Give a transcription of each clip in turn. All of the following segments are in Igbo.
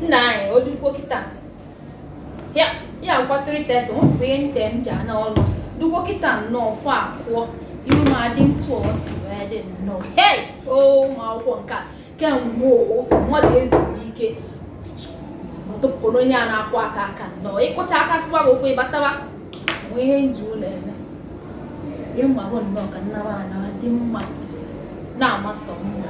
nna anyị o dukwo kịta ya ya akụkwa 3:30 nwepụ ihe nte m ji ana ọrụ dukwo kịta nnọọ 4 akụọ iru m adị ntụ ọ si wee dị nnọọ hei o ụmụ akwụkwọ nke a kemgbe ụtụtụ mmadụ ezuru ike ọtụpụrụ onye a na-akụ aka aka nnọọ ị kụcha aka fụwa gị ụfụ ị bataba o nwe ihe m ji ụlọ eme ihe m ma bụ nnọọ ka m naba anawa dị mma na-amasị mma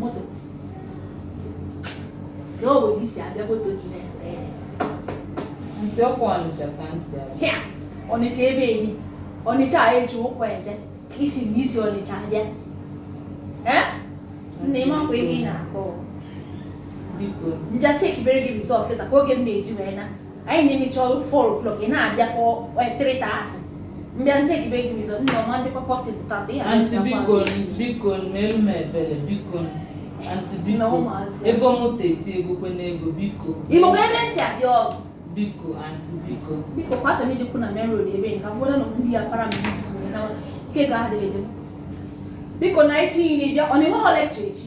moto na o nwere isi abịa moto gị na-ere ere Aunty ọkwa Ọnịcha ka m si abịa. hịa Ọnịcha ebe eri Ọnịcha a e ji ụkwụ eje ka ị sị na i si Ọnịcha abịa ee nne ị makwa ihe ị na-akọ m bịa chekibere gị result kịta ka oge m na-eji wee na anyị na-emechi ọrụ 4 o'clock ị na-abịa for 3:30 m bịa chekibere gị result nne ọ ma adị possible tata ihe Aunty biko biko meelu m ebere biko Aunty biko ego moto eti ego kwe n'ego biko ị makwa ebe m si abịa o biko Aunty biko biko kwa achọrọ m ije kwụ na main road ebe nka mgbe na ndị ya para m ike ga-adịghị biko na echi niile bịa ọ na-enwe ha lecture echi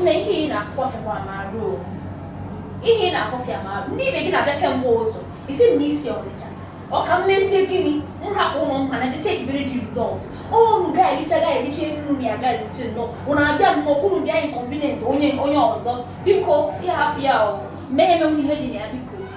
Nne ihe ị na-akọ fịakwara m arụ o. Ihe ị na-akọ fịa m arụ. Ndị ibe gị na-abịa kemgbe ụtụtụ. Ị sị m na i si Ọnịcha. Ọ ka m mezie gịnị? M hapụ ụlọ m ga-ana bịa chekibere gị result. Ụnụ gagharịcha gagharịcha nnu m ya gagharịcha nnọọ. Ụnụ abịa nnọọ kwunu bịa inconvenience onye onye ọzọ. Biko ya hapụ ya o. Mmehie menwu ihe dị na ya biko.